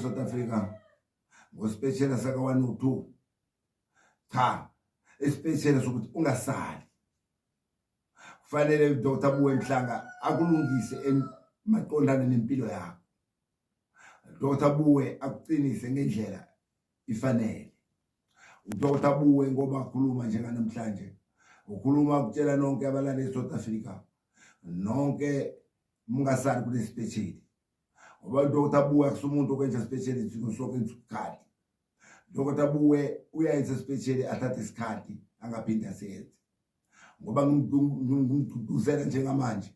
South Africa ngosipeshela saka 102 cha isipeshela sokuthi ungasali kufanele uDr Buwe Mhlanga akulungise emaqondana nempilo yakho Dr Buwe akuqinise ngendlela ifanele uDr Buwe ngoba akhuluma njenganamhlanje ukhuluma ukutshela nonke abalale eSouth Africa nonke mungasali kune special ngoba into ukuthi abuya kusumuntu okwenza special izinto sonke isikhathi lokho tabuwe uyayenza special athathe isikhathi angaphinde asenze ngoba ngimgcugcuzela njengamanje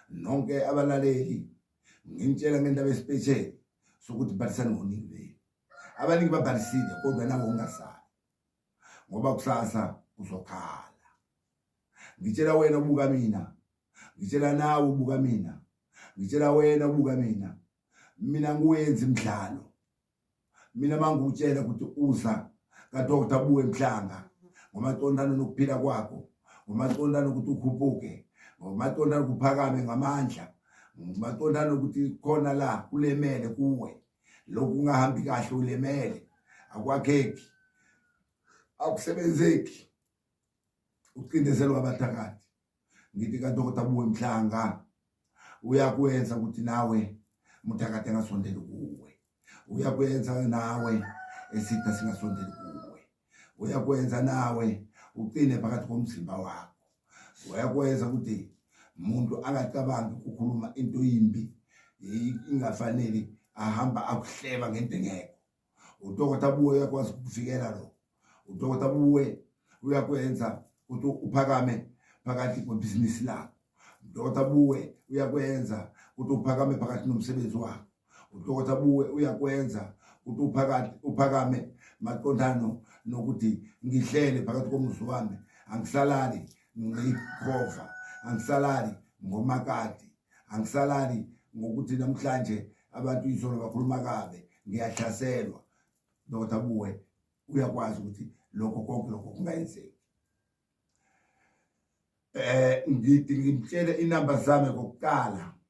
nonke abalaleli ngimtshela ngendaba especial sokuthi bhalisani ngoningi benu abaningi babhalisile kodwa nawo ungasali ngoba kusasa uzokhala ngitshela wena ubuka mina ngitshela nawe ubuka mina ngitshela wena ubuka mina mina ngiwenza imidlalo mina mangikutshela ukuthi uza kadokta buwe mhlanga ngomaqondana nokuphila kwakho ngomaqondana ukuthi ukhuphuke ngomaqondana kuphakame ngamandla ngomaqondana ukuthi khona la kulemele kuwe lokhu kungahambi kahle ulemele akwakheki akusebenzeki ucindezelwa abathakathi ngithi kadokota buwe mhlanga uyakwenza ukuthi nawe muthakathi angasondeli kuwe uyakwenza nawe esitha singasondeli kuwe uyakwenza nawe uqine phakathi komzimba wakho uyakwenza ukuthi umuntu angacabangi ukukhuluma into yimbi ingafanele ahamba akuhleba ngento engekho udokotha buwe uyakwazi ukukuvikela lo udokotha buwe uyakwenza ukuthi uphakame phakathi kwebhizinisi lakho udokotha buwe uyakwenza ukuthi uphakame phakathi nomsebenzi wakho udokotha buwe uyakwenza ukuthi uphakathi uphakame maqondano nokuthi ngihlele phakathi komuzi wami angisalali ngikhova angisalali ngomakati angisalali ngokuthi namhlanje abantu izolo bakhuluma kabe ngiyahlaselwa dokotha buwe uyakwazi ukuthi lokho konke lokho kungayenzeki eh ngithi ngimtshele inamba zami kokuqala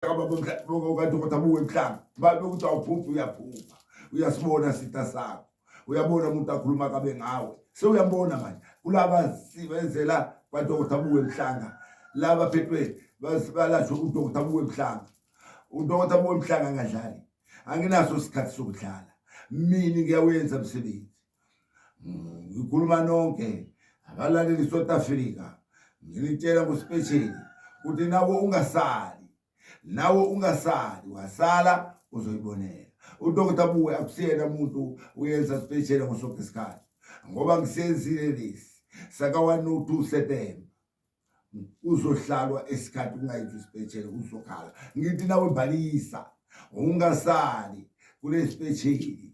kadokotha buwe mhlanga babe ukuthi awuphuphi uyaphupha uyasibona sitha sakho uyabona umuntu akhuluma kabe ngawe sewuyambona manje kulaba sibenzela kwadokotha buwe mhlanga laba phethwe balashwe udokotha buwe mhlanga udokotha buwe mhlanga angadlali anginaso isikhathi sokudlala mina ngiyawenza msebenzi ngikhuluma nonke abalaleli South Africa nginitshela kusipesheli ukuthi nawe ungasali nawe ungasali wasala uzoyibonela udokotela buwe akusiyena umuntu uyenza sipesheli ngosonke isikhathi ngoba ngisenzile lesi saka-102 September uzohlalwa isikhathi ungayizwa isipetshele uzokhala ngithi nawe balisa ungasali kulesipetsheli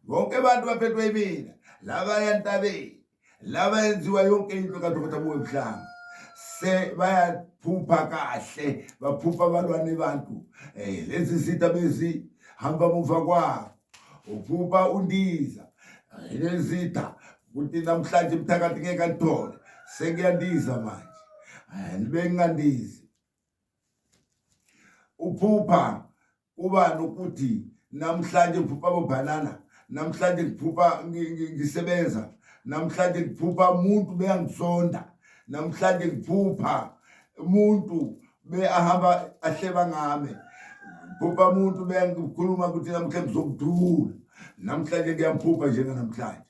bonke abantu baphethwe imina laba yantabeni laba yenziwa yonke into kadokotela buwe mhlanga se bayaphupha kahle baphupha abalwane bantu um lezi zitha bezihamba muva kwabo uphupha undiza ngenezitha ukuthi namhlanje mthakathi ngeke alithole sekuyandiza manje libe ngingandizi uphupha kuba nokuthi namhlanje ngiphupha bobhanana namhlanje ngiphupha ngisebenza namhlanje ngiphupha umuntu beyangisonda namhlanje ngiphupha umuntu be ahamba ahleba ngami phupha umuntu bengikhuluma ukuthi namhlanje ngizokudula namhlanje ngiyamphupha njenganamhlanje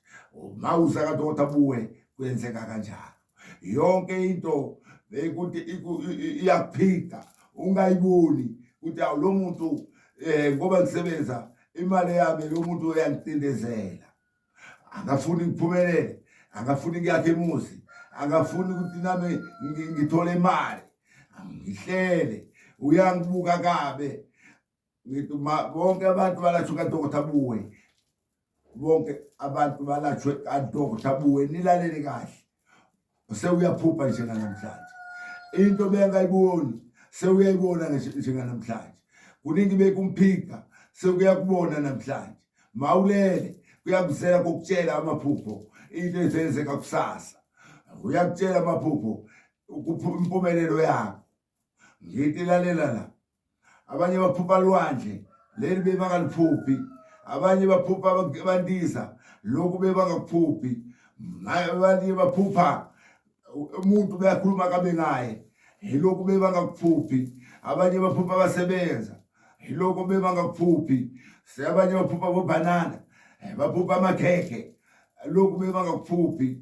mawusa kadoda buwe kwenzeka kanjalo yonke into bekuthi iyaphika ungayiboni ukuthi awu lo muntu um ngoba ngisebenza imali yami lo muntu uyangicindezela akafuni ngiphumelele akafuni kuyakhe imuzi akafuni ukuthi nami ngithole imali ngihlele uyangibuka kabe ngithi bonke abantu balashwe kadokotha buwe bonke abantu balashwe kadokotha buwe nilalele kahle sewuyaphupha njenganamhlanje into bengayiboni sewuyayibona njenganamhlanje kuningi bekumphika sekuyakubona namhlanje mawulele kuyakuzela kokutshela amaphupho into ezenzeka kusasa uyakutshela amaphupho impumelelo yakho ngithi lalela la abanye baphupha lwandle leli bebangaluphuphi abanye baphupha abandiza lokhu bebangakuphuphi abanye baphupha umuntu beyakhuluma kabe ngaye yilokhu bebangakuphuphi abanye baphupha abasebenza yilokhu bebangakuphuphi abanye baphupha bobhanana eh, baphupha amakhekhe lokhu bebangakuphuphi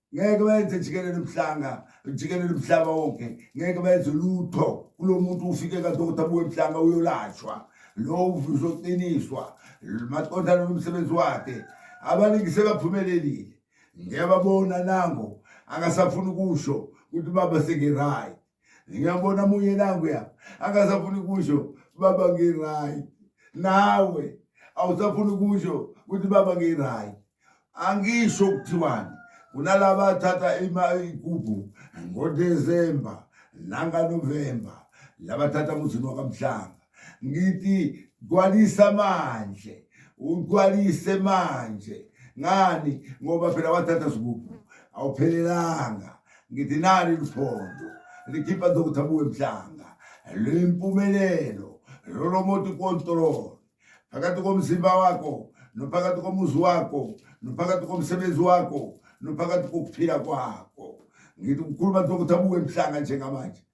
ngeke benze jikelele mhlanga jikelele mhlaba wonke ngeke benze lutho kulo muntu ufike kadokotha abuye mhlanga uyolashwa lo uzoqiniswa maqondana nomsebenzi wakhe abaningi sebaphumelelile ngiyababona nango akasafuni ukusho ukuthi baba sengirayi ngiyambona munye nanguya akasafuni kusho baba ngi-right nawe awusafuni kusho ukuthi baba ngi-right angisho kuthiwani kunalaba athatha ikuphu ngodesemba nanganovemba labathatha muzini wakamhlanga ngithi gcwalisa manje ugcwalise manje ngani ngoba phela wathatha sigubu awuphelelanga ngithi nali liphondo likhipha dr buwe mhlanga luyimpumelelo lolo moti kontrol phakathi komzimba wakho nophakathi komuzi wakho nophakathi komsebenzi wakho nophakathi kokuphila kwakho ngithi ukhuluma dr buwe mhlanga njengamanje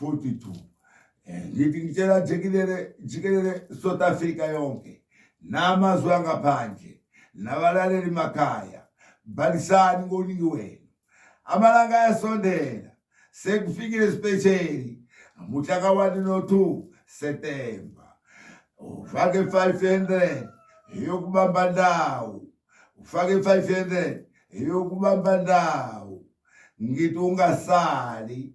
42 eh, ngithi ngitshela jikelele jikelele South Africa yonke namazwe angaphandle nabalaleli makhaya balisani ngoningi wenu amalanga ayasondela sekufikile isipesheli muhla kawani no-2 Septemba ufake 500 eyokubamba ndawo ufake 500 eyokubamba ndawo ngithi ungasali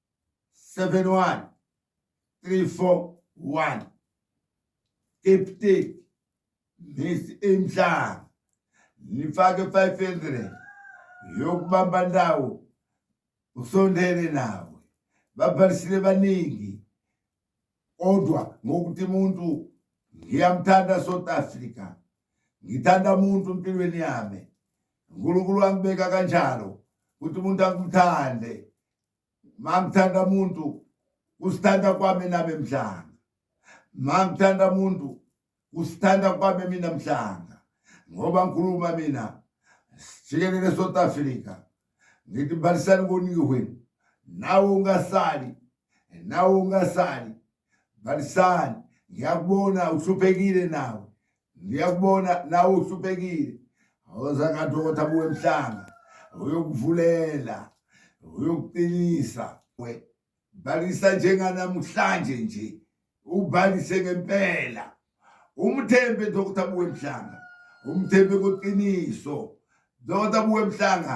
seven one three four one kepteki mesi emhlanga nifake five hundred yokubamba ndawo usondele nawe babhalisile baningi kodwa ngokuthi umuntu ngiyamthanda South Africa ngithanda umuntu empilweni yami uNkulunkulu wangibeka kanjalo ukuthi umuntu angimthande mangithanda muntu kusithanda kwami nami mhlanga mangithanda muntu kusithanda kwami mina mhlanga ngoba ngikhuluma mina sijikelele south africa ngithi balisani koningi wenu nawe ungasali nawe ungasali balisani ngiyakubona uhluphekile nawe ngiyakubona nawe uhluphekile awuza kanti ukuthi abuwe emhlanga uyokuvulela uyokuqinisa we balisa njenganamhlanje nje ubalise ngempela umthembe dokotha abuwe emhlanga umthembe kweqiniso dokotha abuwe emhlanga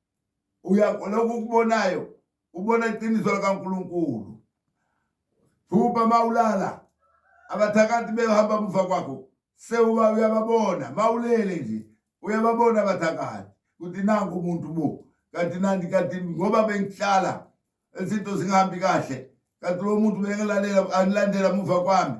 uyakholwa ukukubonayo ubona iqiniso likaNkulunkulu thuba mawulala abathakathi behamba muva kwakho sewuba uyababona mawulele nje uyababona abathakathi ukuthi nangu umuntu bo kanti nandi kanti ngoba bengihlala izinto zingahambi kahle kanti lo muntu bengelalela angilandela muva kwami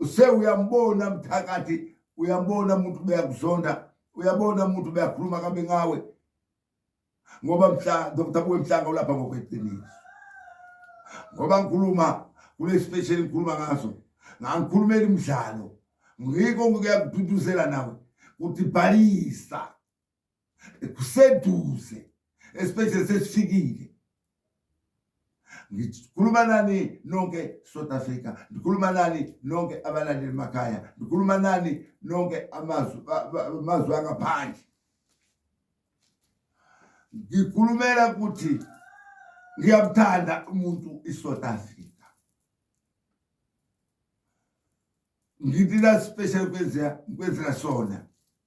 use uyambona mthakathi uyambona umuntu beyakuzonda uyabona umuntu beyakhuluma kabe ngawe ngoba mhla Dr. Buwe Mhlanga ulapha ngokweqiniso ngoba ngikhuluma kule special ngikhuluma ngaso ngangikhulumela imidlalo ngiko ngikuyakududuzela nawe kutibhalisa kuseduze esibhedlela sesifikile ngikhuluma nani nonke South Africa ngikhuluma nani nonke abalandeli emakhaya ngikhuluma nani nonke amazwi amazwi angaphandle ngikhulumela ukuthi ngiyamthanda umuntu iSouth Africa ngithi la special kwenzeka kwenzeka sona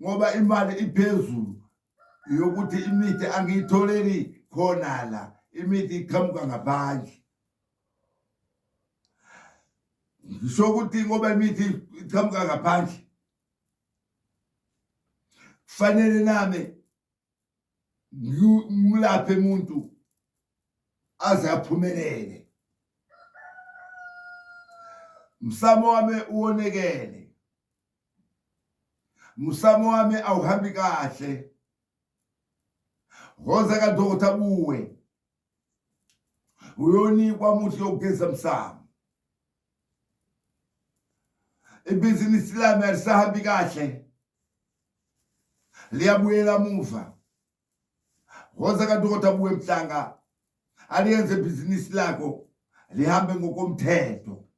ngoba imali iphezulu yokuthi imithi angiyitholeli khona la imithi iqhamuka ngaphandle ngisho ukuthi ngoba imithi iqhamuka ngaphandle kufanele nami ngilaphe umuntu aze aphumelele msamo wami uwonekele musamo wami awuhambi kahle hoza kadokotha kuwe uyonikwa muthi yokugeza msamo ibhizinisi lami alisahambi kahle liyabuyela muva Woza kaDokotha Buwe Mhlanga aliyenze ibhizinisi lakho lihambe ngokomthetho.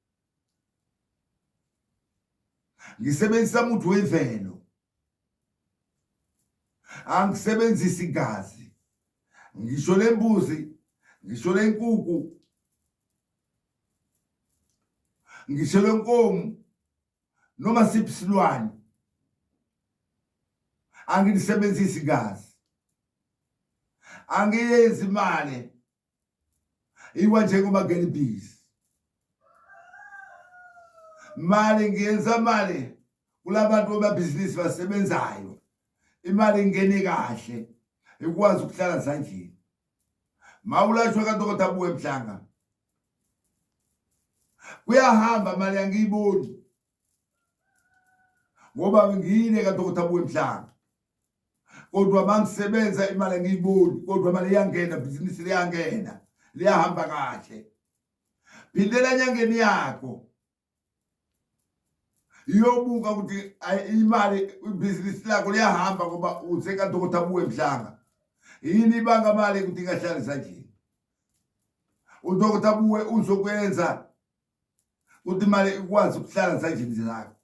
Ngisebenzisa umuthi wemvelo. Angisebenzisi igazi. Ngisho lembuzi, ngisho lenkuku, ngisho lenkomo noma siphi silwane angilisebenzisi igazi angiyenzi imali iwa njengoba ngelibhizi mali ngiyenza mali kulabantu bamabhizinisi basebenzayo imali ingene kahle ikwazi ukuhlala sandleni mawulashwa kadokotela buwe mhlanga kuyahamba mali angiyiboni ngoba ngiyile kadokotha buwemhlanga kodwa mangisebenza imali angiyiboni kodwa mali iyangena bhizinisi liyangena liyahamba kahle phindela enyangeni yakho iyobuka ukuthi imali ibhizinisi lakho liyahamba ngoba usekadokotha buwe mhlanga yini ibanga mali ukuthi ingahlali sandleni udokotha buwe uzokwenza ukuthi imali ikwazi ukuhlala sandleni zakho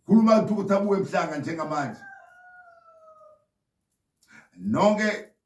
khuluma udokotha buwe mhlanga njengamanje nonke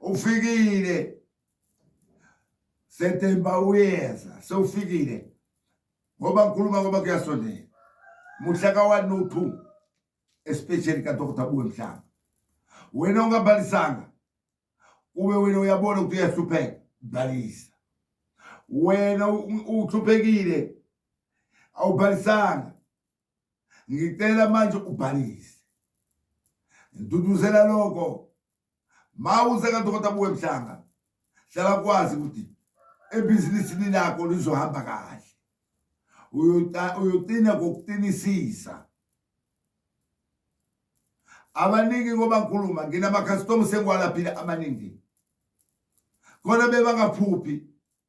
ufikile September uyeza sewufikile ngoba ngikhuluma ngoba kuyasondela muhla ka 1 no 2 especially ka Dr Buwe Mhlanga wena ungabalisanga kube wena uyabona ukuthi uyahlupheka balisa wena uhluphekile awubhalisanga ngicela manje ubhalise ngiduduzela lokho ma useka dokota buwe mhlanga hlala kwazi ukuthi ebhizinisini lakho lizohamba kahle uyoqina ngokuqinisisa abaningi ngoba ngikhuluma nginamakhasitomu sengiwalaphile amaningi khona bebangaphuphi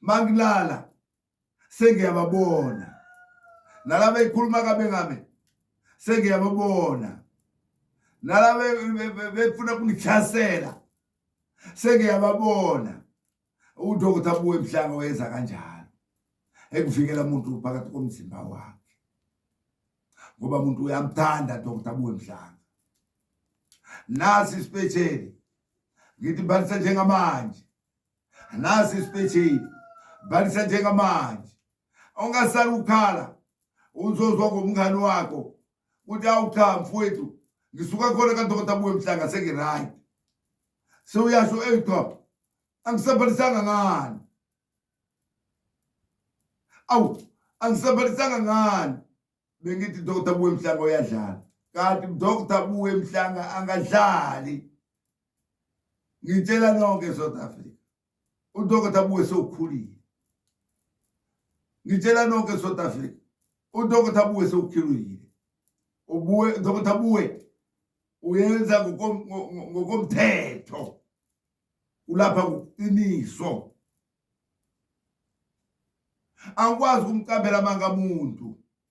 mangilala sengiyababona nalaba ekhuluma kabe ngami sengiyababona nalaba befuna kungihlasela sengiyababona udokotha abuwe ebuhlanga weza kanjalo ekuvikela umuntu phakathi komzimba wakhe ngoba umuntu uyamthanda dokotha abuwe mhlanga nasi isipesheli ngithi bhalisa njengamanje nasi isipetheli bhalisa njengamanje ungasali ukhala uzozwa ngomngani wakho ukuthi awu cha mfowethu ngisuka khona kadokota buwe mhlanga sengiright sewuyasho eyi cha angisabhalisanga ngani awu angisabhalisanga ngani bengithi dokota buwe mhlanga uyadlala kanti dokota buwe mhlanga angadlali ngitshela nonke South Africa udokotha buke sewukhulile ngitshela nonke South Africa udokotha buke sewukhulile ubuye udokotha buwe uyenza ngokomthetho ulapha ngokuqiniso angikwazi ukumcambela amanga muntu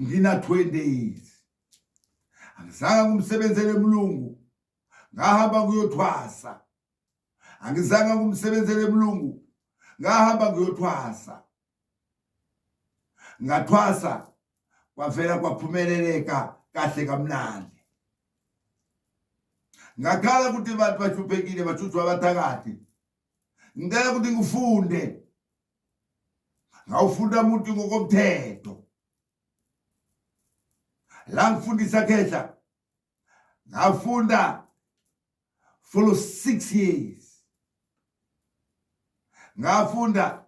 ngina 20 days angizanga kumsebenzele emlungu ngahamba kuyothwasa angizanga kumsebenzele emlungu ngahamba kuyothwasa ngathwasa kwavela kwaphumeleleka kahle kamnandi ngakhala ukuthi abantu bachuphekile bathuthwa abathakathi ngicela ukuthi ngifunde ngawufunda umuntu ngokomthetho la ngifundisa khehla ngafunda for 6 years ngafunda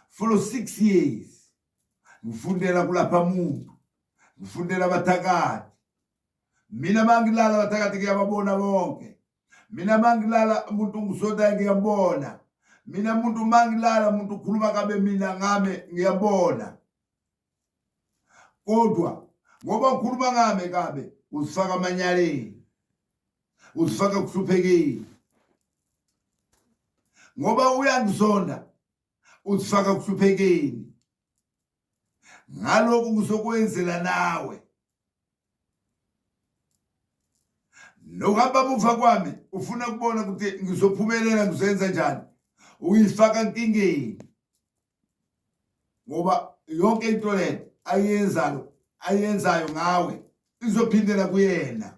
for 6 years ngifundela kulapha muntu ngifundela abathakathi mina mangilala abathakathi kuyababona bonke mina mangilala umuntu ungisotayo ngiyambona mina muntu mangilala umuntu ukhuluma kabe mina ngame ngiyambona kodwa ngoba ukhuluma ngame kabe uzifaka amanyaleni uzifaka ekuhluphekeni ngoba uyangizonda uzifaka ekuhluphekeni ngalokhu ngizokwenzela nawe nokuhamba muva kwami ufuna kubona ukuthi ngizophumelela ngizenza njani uyifaka nkingeni ngoba yonke into le ayenzayo ayenzayo ngawe izophindela kuyena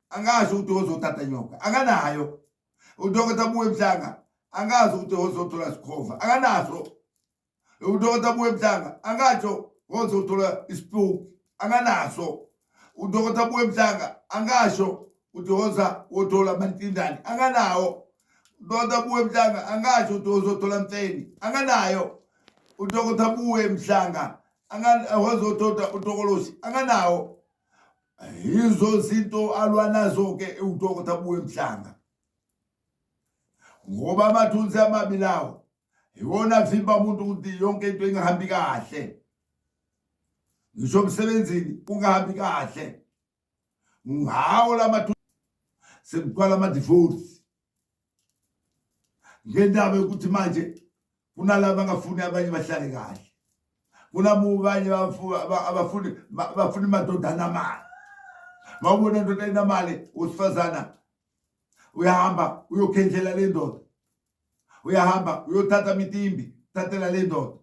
angazi ukuthi ozothatha nyoka akanayo udokotela buwe mhlanga angazi ukuthi ozothola sikhova akanaso udokotela buwe mhlanga angatsho ozothola isipuku akanaso udokotela buwe mhlanga angasho ukuthi oza wothola amantindane akanawo udokotela buwe mhlanga angasho ukuthi ozothola mfeni akanayo udokotela buwe mhlanga angazothola utokolosi akanawo yizo zinto alwa nazo-ke udokotha buwe mhlanga ngoba amathunzi amabi lawo iwona avimba umuntu ukuthi yonke into ingahambi kahle ngisho emsebenzini kungahambi kahle ngawo la mathunzi sekuqala ama-divorce ngendaba yokuthi manje kunalaba angafuni abanye bahlale kahle kunabanye abafuni bafuna imadoda anamali mawubona ndoda enamali usifazana uyahamba uyokhendlela le ndoda uyahamba uyothatha mitimbi thathela le ndoda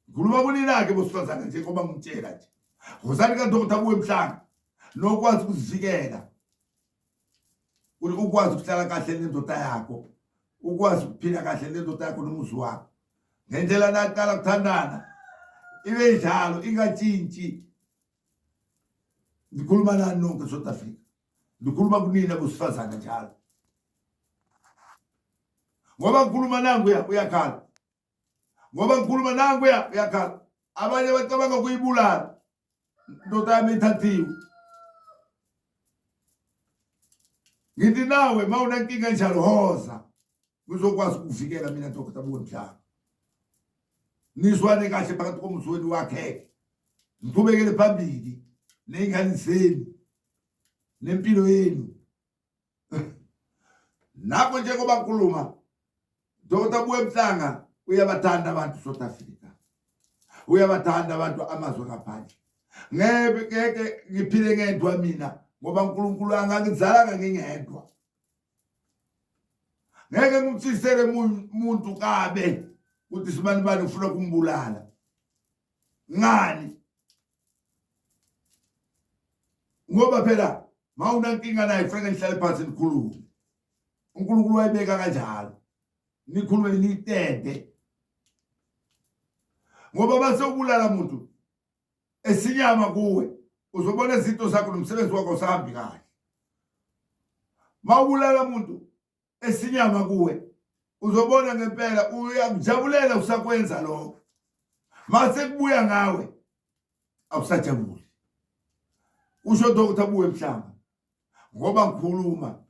Ngikhuluma kunina-ke bosifazane njengoba ngitshela nje wozani kadokotha kuwe mhlanga nokwazi ukuzivikela ukwazi ukuhlala kahle nendoda yakho ukwazi ukuphila kahle nendoda yakho nomuzi wakho ngendlela naqala kuthandana ibe njalo ingatshintshi ndikhuluma nani nonke south africa ndikhuluma kunina bosifazane njalo ngoba ngikhuluma nangu uyakhala ngoba ngikhuluma nankuya uyakhala abanye bacabanga kuyibulala ndoda yami ithathiwe ngithi nawe ma unenkinga enjalo hoza ngizokwazi ukuvikela mina dokota bonjalo nizwane kahle phakathi komzweni wakheke ngiqhubekele phambili ney'ngane zenu nempilo yenu Nakho njengoba ngikhuluma Dr. Buemhlanga uyabathanda abantu South Africa. Uyabathanda abantu amazwe ngaphandle. Ngeke ngeke ngiphile ngedwa mina ngoba uNkulunkulu angangizalanga ngingedwa. Ngeke ngimthisele umuntu kabe ukuthi sibani bani ufuna kumbulala. Ngani? ngoba phela mawunankinga naye kufanele nihlale phansi nikhulume uNkulunkulu wayibeka kanjalo nikhulume nitende ngoba base ubulala muntu esinyama kuwe uzobona izinto zakho nomsebenzi wakho usahambi kahle mawubulala muntu esinyama kuwe uzobona ngempela uyakujabulela usakwenza lokho mase kubuya ngawe awusajabuli usho Dr Buwe Mhlanga ngoba ngikhuluma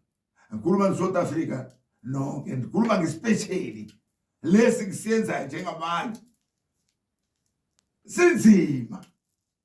ngikhuluma ne South Africa nonke ngikhuluma ngespecially lesi kusenza njengamanje sinzima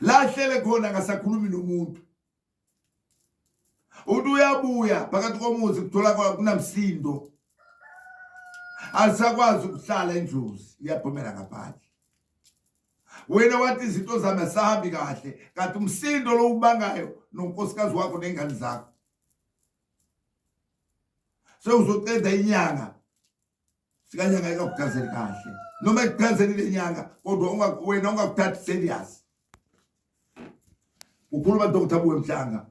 la ahlele khona akasakhulumi nomuntu uthi uyabuya phakathi komuzi kuthola kunamsindo alisakwazi ukuhlala indlozi iyaphumela ngaphandle wena wathi izinto zami asahambi kahle kanti umsindo lowubangayo nonkosikazi wakho nengane zakho sewuzoceda inyanga fika nyanga ikakuchazeli kahle noma ikuchazeli le nyanga kodwa wena ungakuthathi serious ukhuluma dr buwe mhlanga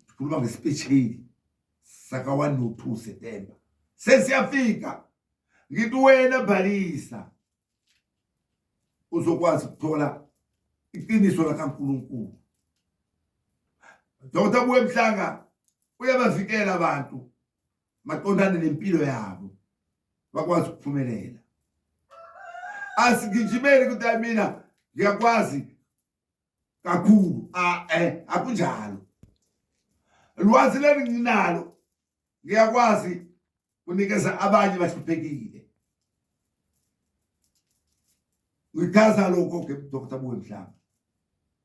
ukhuluma ngesipesheli saka 1 no 2 september sesiyafika ngithi wena bhalisa uzokwazi ukuthola iqiniso lakaNkuluNkulu Dr Buwe Mhlanga uyabavikela abantu maqondana nempilo yabo bakwazi ukuphumelela asigijimeli ukuthi hayi mina ngiyakwazi kakhulu ae eh, akunjalo lwazi leli nginalo ngiyakwazi kunikeza abanye bahluphekile ngichaza lokho ke dr buwe mhlanga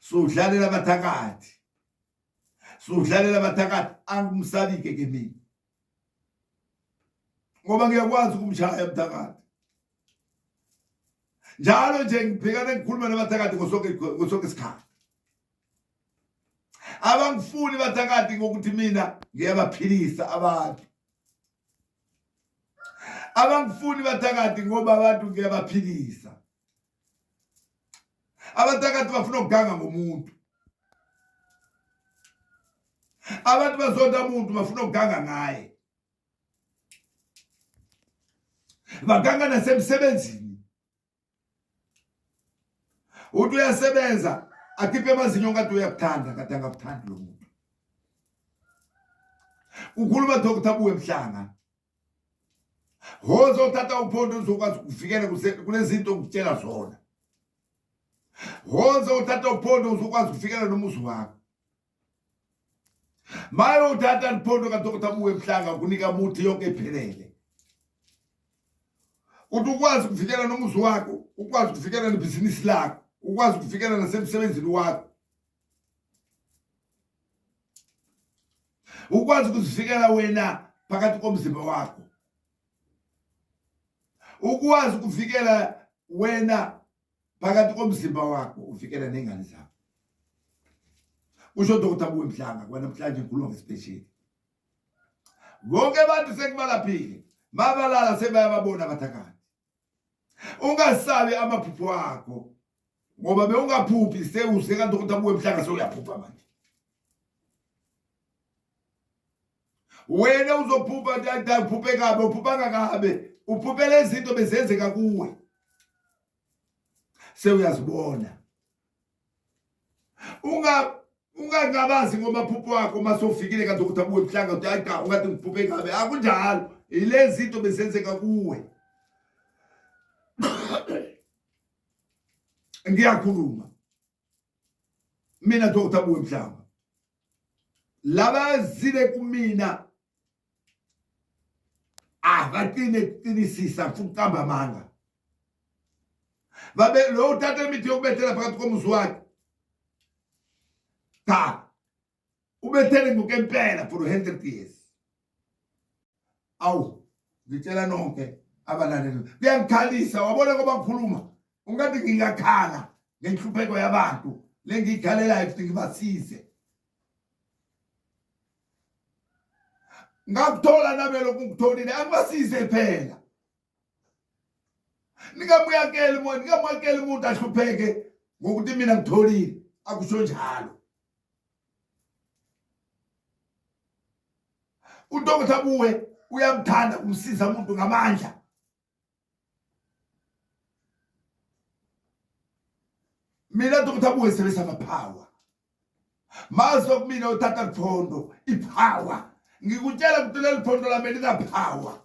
sudlalela abathakathi sudlalela abathakathi angumsabike ke mina ngoba ngiyakwazi ukumshaya umthakathi njalo nje ngibhekana ngikhuluma nabathakathi ngosonke ngosonke isikhathi abangifuni bathakathi ngokuthi mina ngiyabaphilisa abantu abangifuni bathakathi ngoba abantu ngiyabaphilisa abantu akade bafuna ukuganga ngomuntu abantu bazonda umuntu bafuna ukuganga ngaye baganga nasemsebenzini uthi uyasebenza akhiphe amazinyo ngathi uyakuthanda kade angakuthandi lo muntu ukhuluma dr buwe mhlanga woze othatha uphondo uzokwazi ukuvikela kunezinto okutshela zona woze othatha uphondo uzokwazi ukuvikela nomuzi wakho maye uthatha liphondo kadokotha muwe mhlanga kunika muthi yonke ephelele uthi ukwazi ukuvikela nomuzi wakho ukwazi ukuvikela nebhizinisi lakho ukwazi ukuvikela nasemsebenzini wakho ukwazi ukuzivikela wena phakathi komzimba wakho ukwazi ukuvikela wena phakathi komzimba wakho uvikela nengane zakho usho dokotha kuwe mhlanga kwanamhlanje ngikhuluma ngesipesheli bonke abantu sekubalaphile mabalala sebayababona abathakathi ungasabi amaphupho akho ngoba bewungaphuphi sewuse kanti ukuthi abuye emhlanga sewuyaphupha manje wena uzophupha dada uphuphe kabe uphuphanga kabe uphuphela izinto bezenzeka kuwe sewuyazibona unga ungangabazi ngomaphupho wakho uma sowufikile kanti ukuthi abuye ebuhlanga uthi hayi cha ungathi ngiphuphe ingabe akunjalo yilezi zinto bezenzeka kuwe ngiyakhuluma mina dokotha buwe mhlanga laba zile kumina akatini ekuqinisisa afuna ukuqamba amanga babe lo uthatha imithi yokubethela phakathi komuzi wakhe cha ubethele ngokempela for 100 years awu ngitshela nonke abalaleli kuyangikhalisa wabona ngoba ngikhuluma ungathi ngingakhala ngenhlupheko yabantu lengiyikhalelayo futhi ngibasize ngakuthola nabelokhu ngikutholile angibasize phela ningamuyakeli moya ningamuyakeli umuntu ahlupheke ngokuthi mina ngitholile akusho njalo udokotha buwe uyamthanda kumsiza umuntu ngamandla mina nto kuthiwa kungesebenzisa amaphawa mazi okumina uthatha liphondo iphawa ngikutshela ukuthi leli phondo lami linaphawa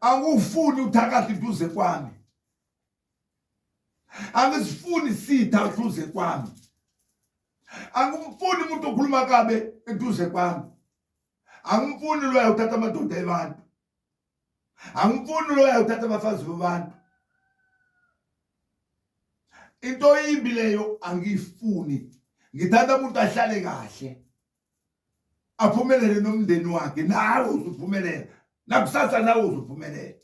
angufuni uthakathi duze kwami angisifuni sitha duze kwami angimfuni umuntu okhuluma kabe eduze kwami angimfuni loya uthatha amadoda ebantu angimfuni loya uthatha abafazi bebantu into imbi leyo angiyifuni ngithanda umuntu ahlale kahle aphumelele nomndeni wakhe nawe uzuphumelela nakusasa nawe uzuphumelela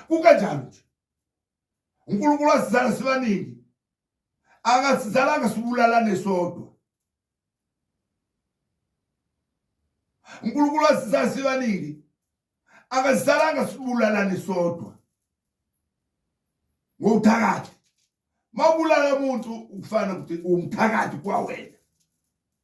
kukanjalo nje uNkulunkulu wasizala sibaningi akasizalanga sibulalane sodwa uNkulunkulu wasizala sibaningi akasizalanga sibulalane sodwa ngokuthakathi mawubulala umuntu ukufana ukuthi umthakathi kwawena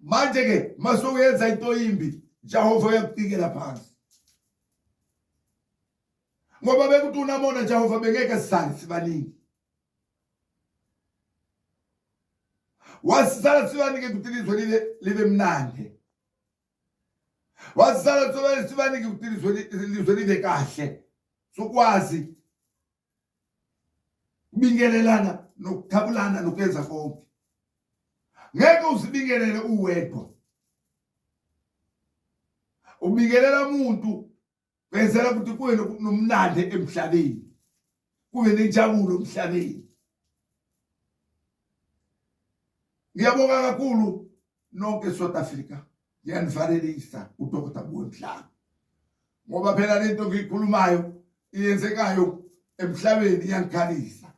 manje ke masokuyenza into yimbi Jehova uyakutikela phansi ngoba bekuthi unamona Jehova bengeke sisale sibaningi wasisala sibanike ukuthi ilizwe libe libe mnandi wasisala sibanike ukuthi ilizwe libe kahle sukwazi bingelelana nokuthabulana nokuyenza konke ngeke uzibingelele uwedwa ubingelela umuntu benzela ukuthi kube nomlande emhlabeni kube nenjabulo emhlabeni ngiyabonga kakhulu nonke eSouth Africa ngiyanivalelisa uDr. Buwe Mhlanga ngoba phela lento ngiyikhulumayo iyenzekayo emhlabeni iyangikhalisa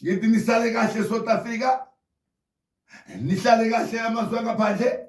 ngithi nisale kahle South Africa nihlale kahle amazwe angaphandle